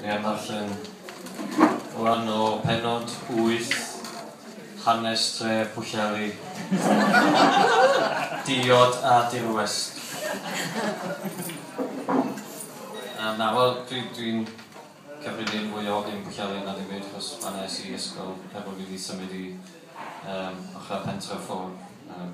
Neu am ddarllen rhan o penod 8 hanes tre Pwllheli, diod a dirwest. Yym na wel dwi dwi'n cyfrifyn fwy o hyn Pwllheli na dim byd achos fan 'na es i i ysgol heb bo' fi 'di symud i yym ochra pentre Fôn yym.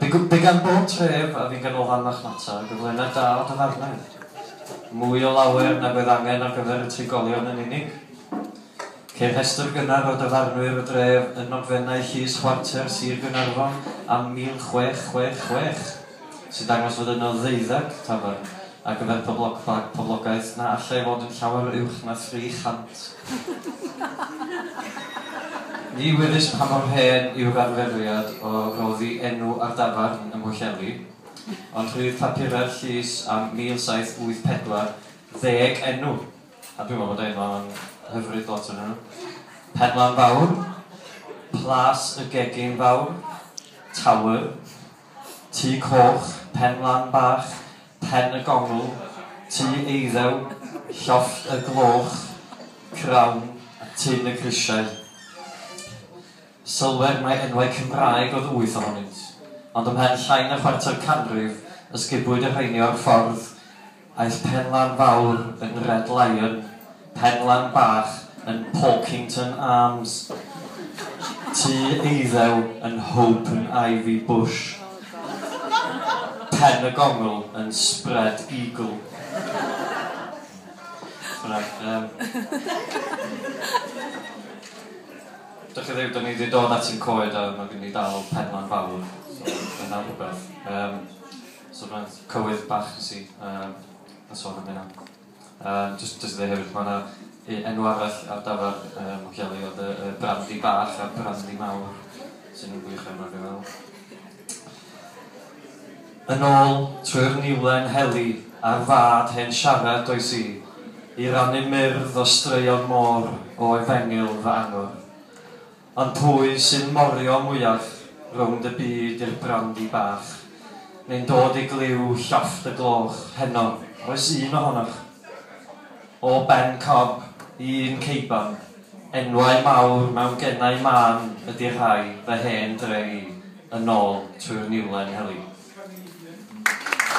By by gan bob tref a fu ganolfan marchnata gyflenedd da o dafarnau. Mwy o lawer nag oedd angen ar gyfer y trigolion yn unig. Ceir rhestr gynnar o dafarnwyr y dref yn nogfennau llys chwarter Sir Gaernarfon am 1666, sy'n dangos fod yno ddeuddeg tafarn ar gyfer poblogfa poblogaeth na allai fod yn llawer uwch na 300. Ni wyddys pa mor hen yw'r arferiad o roddi enw ar dafarn ym Mhwllheli, ond rhydd papurau'r llys am 1784 ddeg enw, a dwi'n meddwl bod y enwau yma'n hyfryd, lot ohonyn nhw, Penlan Fawr, Plas y Gegin Fawr, Tower, Tŷ Coch, Penlan Bach, Pen y Gongl, Tŷ Eiddew, Llofft y Gloch, Crawn a Tun y Grisiau. Sylwer mai enwau Cymraeg oedd wyth ohonynt, ond ymhen llai na chwarter canrif ysgubwyd y rheini o'r ffordd aeth Penlan Fawr yn Red Lion, Penlan bach yn Porkington Arms, tŷ eiddew yn Hope and Ivy Bush, Pen y Gongl yn Spread Eagle, Right erm Dych chi ddim, dan ni di dod at ein coed a ma' gyn ni dal penlan fawr, so dyna rhywbeth. Erm so ma' cywydd bach nes i erm a so am hynna. Yym jyst jyst i ddeu hefyd ma' 'na u- enw arall ar dafarn yym y Gelli Ond yy yy Brandy Bach a Brandy Mawr sy'n yn wych iawn dwi'n meddwl. Yn ôl trwy'r niwlen heli ar fad hen siarad does i, i rannu myrdd o straeon môr o efengyl fy angor. Ond pwy sy'n morio mwyaf rownd y byd i'r brandi bach? Neu'n dod i glyw llofft y gloch heno? Oes un ohonoch? O Ben Cob i un Ceiban, enwau mawr mewn genau mân ydi rhai fy hen dre i, yn ôl trwy'r niwlen heli.